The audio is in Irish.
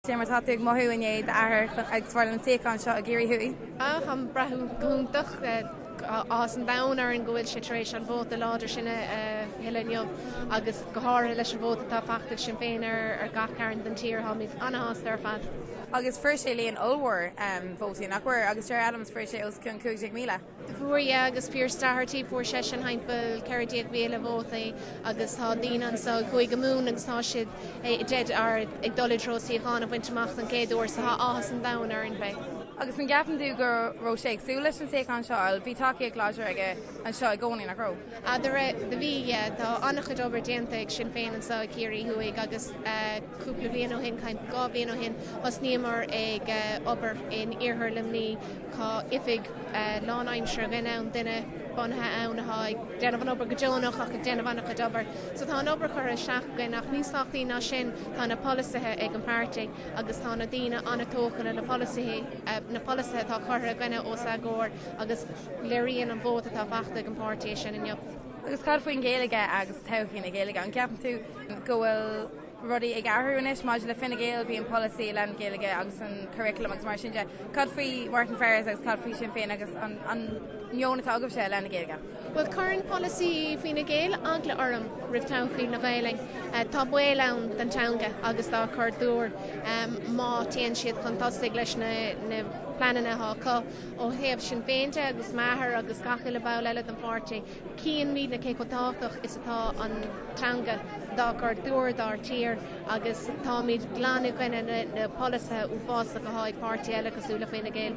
Cé mar atá tú ag mothú i ndiaidh d'athair ag fáil an suíochán seo i gCiarraí Thuaidh? Táim ag brath go hiontach. Tá áthas an domhain orainn go bhfuil sé tar éis an vóta láidir sin a thuilleadh inniu agus go háirithe leis an vóta atá faighte ag Sinn Féin ar gach cearn den tír. Táimid an-shásta ar fad. Agus fuair sé líon ollmhór vótaí, nach bhfuair? Agus Gerry Adams, fuair sé os cionn 15,000. Fuair yeah agus Pearse Doherty, fuair seisean timpeall 14,000 vótaí agus tá daoine anseo i gCúige Mumhan agus tá siad i ndiaidh a bheith ag dul i dtreo suíochán a bhaint amach don chéad uair so tá áthas an domhain orainn. Beidh. Agus an gceapann tú go raibh sé ag súil leis an suíochán seo or bhí tacaíocht láidir aige anseo i gcónaí, nach raibh? Ah, do raibh, do bhí, yeah. Tá an-chuid obair déanta ag Sinn Féin anseo i gCiarraí Thuaidh agus eh. Cúpla bliain ó shin, tuairim dhá bhliain ó shin, thosnaíomar ag obair in Iarthar Luimní. Tá oifig lánaimseartha againn ann, duine bunaithe ann atá ag déanamh an obair go deonach ach ag déanamh an-chuid obair. So tá an obair curtha isteach againn ach níos tábhachtaí ná sin tá na polasaithe ag an páirtí agus tá na daoine an-tógtha leis na polasaithe, na polasaithe atá curtha againne os a gcomhair agus léiríonn an vóta atá faighte ag an páirtí é sin inniu. Agus cad faoin Ghaeilge agus todhchaí na Gaeilge? An gceapann tú go bhfuil. rudaí ag athrú anois maidir le Fine Gael, bhí an polasaí i leith na Gaeilge agus an curriculum agus mar sin de. Cad faoi Martin Ferris agus cad faoi Sinn Féin agus an meon atá agaibhse i leith na Gaeilge? Bhuel, cuireann polasaí Fine Gael eagla orm roimh thodhchaí na Gaeilge. Tá baol ann don teanga agus dár gcultúr má théann siad chun tosaigh leis na pleananna atá acu ó thaobh Sinn Féin de agus m'athair agus gach uile bhall eile den pháirtí. Chíonn muidne cé chomh tábhachtach is atá an teanga dár gcultúr, dár dtír agus táimid glan i gcoinne na bpolasaithe uafásacha atá ag páirtithe eile cosúil le Fine Gael.